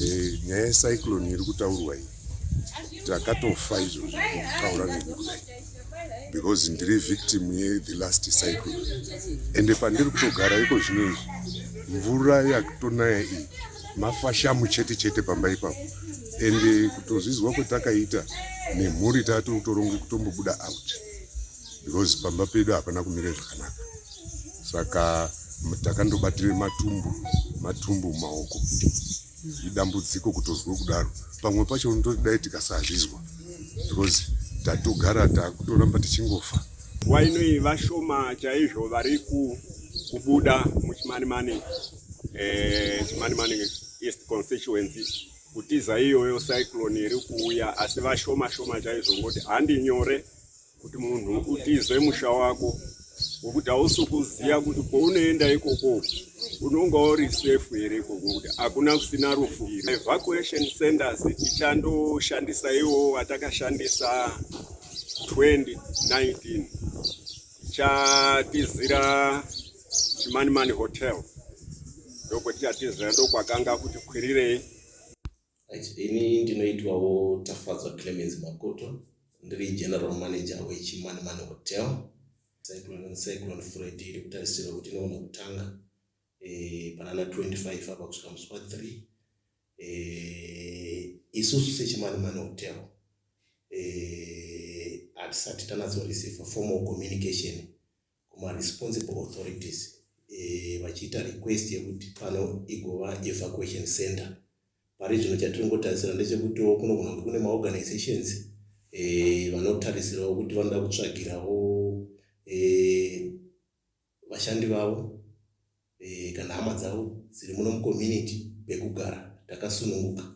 Eh, nyaya yecyclone iri kutaurwa iyi takatofa izvo zvekutaura neni kudai because ndiri victim yethe last cyclone ende pandiri kutogara iko zvino izvi mvura yakutonaya iyi mafashamu chete chete pamba ipapo ende kutozvizwa kwetakaita nemhuri tatotoronge kutombobuda out because pamba pedu hapana kumira zvakanaka saka takandobatira matumbu matumbu maoko idambudziko kutozwa kudaro pamwe pacho unotodai tikasazvizwa because tatogara takutoramba tichingofa nguva inoi vashoma chaizvo vari kubuda muchimanimani eh, chimanimani east constituency kutiza iyoyo cyclone iri kuuya asi vashoma shoma chaizvo ngoti handi nyore kuti munhu utize musha wako ngokuti hausi kuziva kuti kwaunoenda ikoko unonga uri safe here ikoko ngokuti hakuna kusina rufu evacuation centers tichandoshandisa iwo vatakashandisa 2019 tichatizira chimanimani hotel ndokwetichatiza ndokwakanga kuti kwirirei Right. Ini ndinoitwawo Tafadzwa Clemens Makoto ndiri general manager weChimani Man Hotel. Cyclone, Cyclone Freddy iri kutarisirwa kuti inoona kutanga eh, panana 25 apa kusvika musi wa 3 eh, isusu seChimani Man Hotel eh, hatisati tanatsoreceiva formal communication kuma responsible authorities eh, vachiita e, request yekuti pano igova evacuation center pari zvino chatiringotarisira ndechekutiwo kunogona kuti kune maorganizations e, vanotarisirawo kuti vanoda kutsvagirawo e, vashandi vavo e, kana hama dzavo dziri muno mucommunity pekugara takasununguka